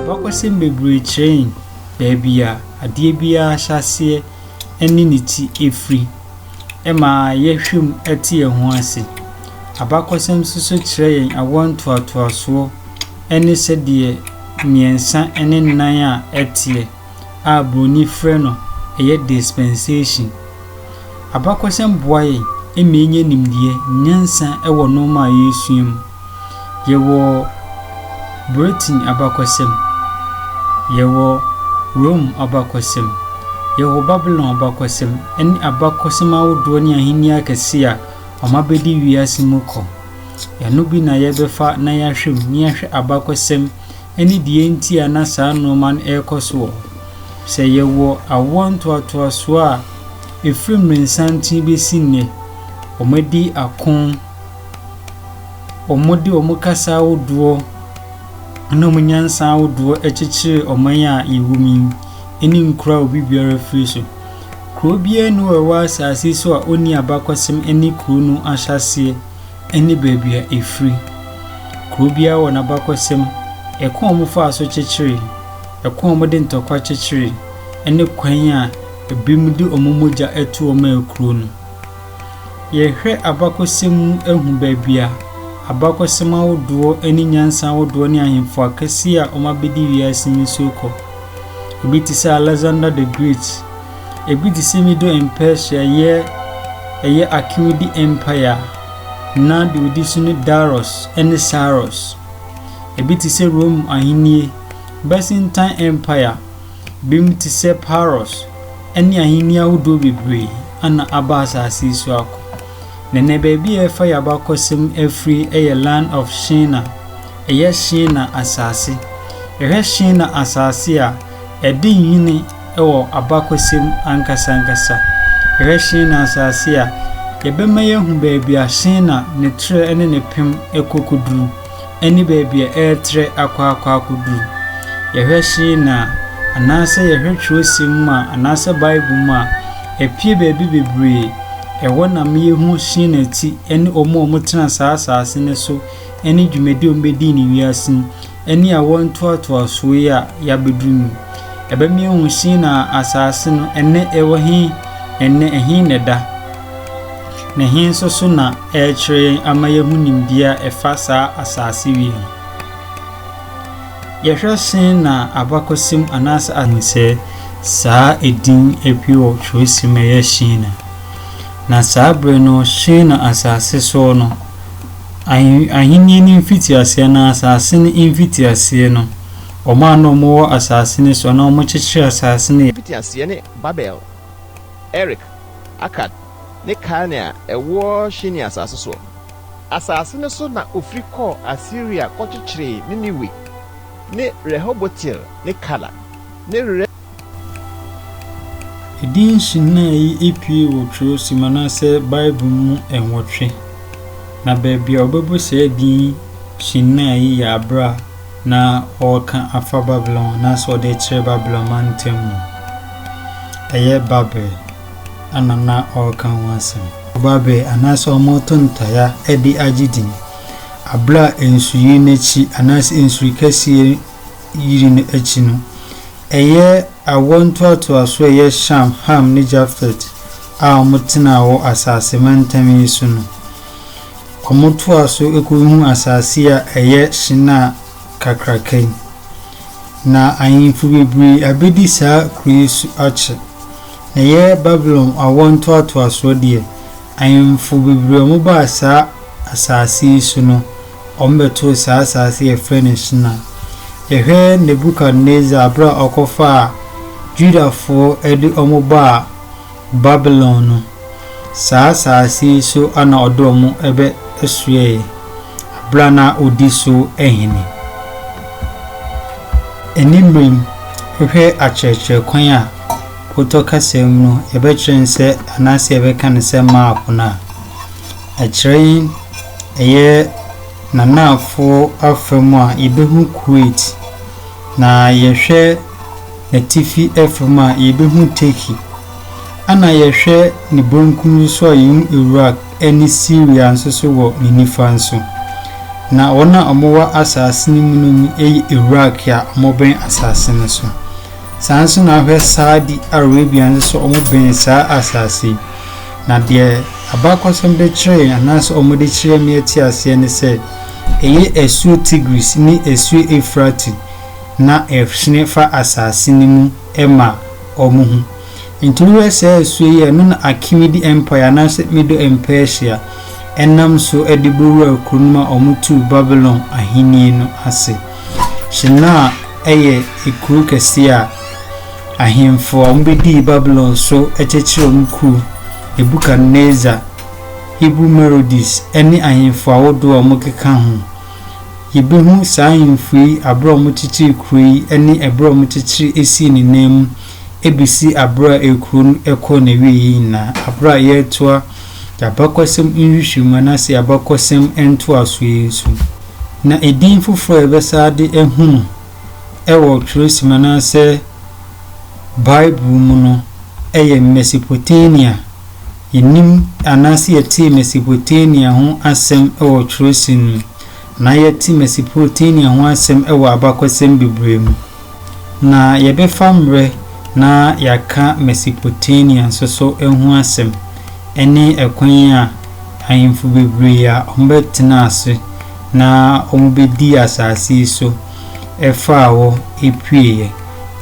Abakɔsɛm bebree kyerɛ yɛn baabi a adeɛ biara hyɛ aseɛ ne ne ti firi. Ɛma yɛhwɛ mu te yɛn ho ase. Abakɔsɛm nso so kyerɛ yɛn awoɔ ntoatoasoɔ ne sɛdeɛ mmiɛnsa ne nnan a ɛteɛ. a Buroni frɛ no ɛyɛ dispensation. Abakɔsɛm boa yɛn ma yɛnya nimdeɛ, nyansa wɔ nnoɔma a yɛresua mu. Yɛwɔ Britain abakɔsɛm, yɛwɔ Rome abakɔsɛm, yɛwɔ Babylon abakɔsɛm ne abakɔsɛm ahodoɔ ne ahennie akɛseɛ a wɔn abɛdi wiase mu kɔ. Ɛno bi na yɛbɛfa na yɛahwɛ mu na yɛahwɛ abakɔsɛm ne deɛ enti a na saa nnoɔma no rekɔ so wɔ hɔ. Sɛ yɛwɔ awoɔ ntoatoasoɔ a ɛfiri mmerɛsanten bɛsi nnɛ, wɔadi ako, wɔde wɔn kasa ahodoɔ ne wɔn nyansa ahodoɔ kyekyere ɔman a yɛwɔ mu yi ne nkuro a obi biara afiri so. Kuro biara nni hɔ a ɛwɔ asase so a ɔnni abakɔsɛm ne kuro no ahyɛaseɛ. ne baabi a ɛfiri. Kuro biara wɔ n'abakɔsɛm, ɛkwan a wɔfaa so kyekyeree, ɛkwan a wɔde ntɔkwa kyekyeree, ne kwan a ebinom de wɔn mogya toɔ maa kuro no. Yɛhwɛ abakɔsɛm mu ahu baabi a abakɔsɛm ahodoɔ ne nyansa ahodoɔ ne ahemfo akɛseɛ a wɔabɛdi wiase nsuo kɔ. Ebi te sɛ Alexander the Great, Ebi te sɛ mi do mpɛ hyɛ yɛ ɛyɛ Akeudi Empire a na de odi so ne Darius ne Cyrus. Ebi te sɛ Rome Ahenni, Byzantine Empire, binom te sɛ Pyrrhus ne ahenni ahodoɔ bebree ana aba asase yi so akɔ. Na ɛnnɛ baabi a yɛfa y'abakɔsɛm afiri ɛyɛ Land of Shina, ɛyɛ Shina asase. Yɛhwɛ Shina asase a, ɛde nhwene, wɔ abakɔsɛm ankasa ankasa. Yɛhwɛ Shinar asase a, yɛbɛma yɛahu baabi a Shinar, ne trɛ ne ne pem kɔ kɔduru, ne baabi a ɛretrɛ akɔ akɔ akɔduru. Yɛhwɛ Shinar a, anaasɛ yɛhwɛ twerɛsɛm mu a, anaasɛ Bible mu a, ɛpue baabi bebree, ɛhɔ na ma yɛhu Shinar ti ne wɔn a wɔtena saa asase no so ne dwumadi a wɔbɛdii no wiase yi ne awoɔ ntoatoasoɔ yi a yɛabɛduru mu. Ɛbɛma yɛahu Sinar asase no, ɛnnɛ ɛwɔ he, ɛnnɛ ɛhe na ɛda, na he nso so na ɛrekyerɛ yɛn ama yɛahu nimdeɛ a ɛfa saa asase wei ho. Yɛhwɛ Sinar abakɔsɛm anaasɛ a. Hu sɛ saa edin apue wɔ twerɛsɛm a ɛyɛ Shinar, na saa berɛ no Shinar asase soɔ no, Ahenni no mfitiaseɛ anaa asase no mfitiaseɛ no, wɔn a na wɔwɔ asase no so anaa wɔkyekyeree asase no yɛ. Mfitiaseɛ ne Babel, Erek, Akad, ne Kalne a ɛwɔ Shinar asase soɔ. Asase no so na wɔfiri kɔɔ Asiria kɔkyekyeree Niniwe ne Rehobotil ne Kala ne. Edin Shinar yi pue wɔ Kyerɛwsɛm anaasɛ Bible mu nwɔtwe, na baabi a wɔbɛbɔ saa din Shinar yi yɛ bere a na wɔreka afa Babilon anaasɛ wɔde rekyerɛ Babilon mantam mu. Ɛyɛ Babel na na wɔreka ho asɛm. Babel anaasɛ wɔreto ntayaa de agye din. Bere a nsuyiri no akyi anaasɛ nsuyiri kɛseɛ yiri no akyi no, ɛyɛ awoɔ ntoatoasoɔ a ɛyɛ Sham, Ham ne Jafet a wɔtenaa wɔ asase mantam yi so no. Wɔtoaa so kɔhunuu asase a ɛyɛ Shinar kakraka yi. Na ahemfo bebree abɛdi saa kuro yi so akyɛ. Na ɛyɛ Babilon awoɔ ntoatoasoɔ deɛ, ahemfo bebree a wɔbaa saa asase yi so no, Wɔbɛtoo saa asaase yi a yɛfrɛ no Shinar. Yɛhwɛ Nebukadnesar berɛ a ɔkɔfaa Judafoɔ de wɔn baa Babilon no, saa asaase yi so na ɔde wɔn bɛsoɛɛe berɛ a na ɔdi so ahene. Ɛnni mmerɛm, wohwɛ akyerɛkyerɛ kwan a wotɔ kasa mu no, yɛbɛkyerɛ no sɛ anaasɛ yɛbɛka no sɛ map no a, Ɛkyerɛ yi ɛyɛ n'anaafoɔ afa mu a yɛbɛhu Kuwait, na yɛhwɛ n'atifi afa mu a yɛbɛhu Turkey, ɛna yɛhwɛ ne benkum nso a yɛhu Iraq ne Syria nso so wɔ ne nifa nso. Na wɔn a wɔwɔ asase no mu no mu yɛ Iraq a wɔbɛn asase no so. Saa nso na ahwɛ Saudi Arabia nso so wɔbɛn saa asase yi. Na deɛ abakɔsɛm de kyerɛɛ anaasɛ wɔde kyerɛɛ me ati aseɛ ne sɛ, ɛyɛ asuo Tigris ne asuo Eufrate na ɛhyene fa asase no mu ma wɔn ho. Enti wohwɛ saa asuo yi a ɛno na Akemidi Empire anaasɛ Medo and Persia nam so de bɛwuraa kuro no mu a wɔtuu Babilon ahennie no ase. Shinar yɛ ekuro kɛseɛ a ahemfo a wɔbɛdii Babilon so kyerɛkyerɛɛ wɔn kuro, Nebukadnesar, Hebrew Merodes, ne ahemfo ahodoɔ a wɔkeka ho. Yɛbɛhu saa ahemfo yi aberɛ a wɔkyekyeree kuro yi ne ɛberɛ a wɔkyekyeree sii ne nan mu ɛbɛsi aberɛ a ekuro no kɔɔ n'awieɛ nyinaa aberɛ a yɛretoa abakɔsɛm nhwehwɛmu anaasɛ abakɔsɛm ntoaso yi so, na edin foforo a yɛbɛsan de ahu no wɔ Twerɛsɛm anaasɛ Bible mu no yɛ Mesopotamia. Yɛnim anaasɛ yɛtee Mesopotamia ho asɛm wɔ Twerɛsɛm mu, na yɛte Mesopotamia ho asɛm wɔ abakɔsɛm bebree mu. Na yɛbɛfa mmerɛ na yɛaka Mesopotamia nso so ho asɛm, ɛne ɛkwan a ahemfo bebree a wɔbɛtenaa ase na wɔbɛdii asase yi so faa hɔ pueeɛ.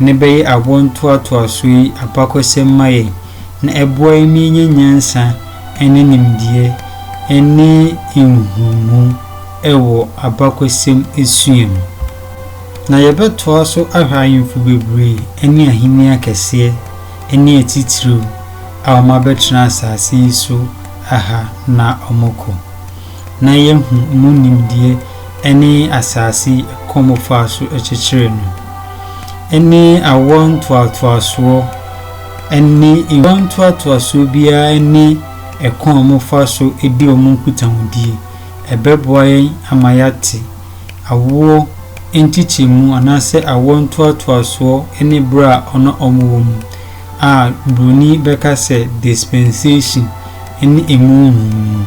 Ne bɛyɛ awoɔntoatoasoɔ yi abakɔsɛm ma yɛn, na ɛboa yɛn ma yɛnya nyansa ne nimdeɛ ne nhunumu wɔ abakɔsɛm sua mu. Na yɛbɛtoa so ahwɛ ahemfo bebree ne ahenni akɛseɛ ne atitiriw a wɔabɛtena asase yi so ha na wɔkɔ, na yɛahu mu nimdeɛ ne asase yi kɔn wɔfaa so kyekyeree no, ne awoɔ ntoatoasoɔ, ne awoɔ ntoatoasoɔ biara ne ɛkɔn a wɔfa so di wɔn nkutahodie. Ɛbɛboa yɛn ama yɛate awoɔ nkyekyɛmu anaasɛ awoɔ ntoatoasoɔ ne berɛ a ɔne wɔn wɔ mu a Buroni bɛka sɛ dispensation ne ɛmu nhumu no.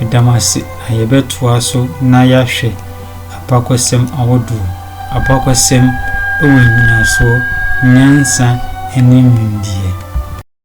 Meda mo ase na yɛbɛtoa so na yɛahwɛ abakɔsɛm ahodoɔ, abakɔsɛm wɔ nnyinasoɔ, nyansa ne nimdeɛ.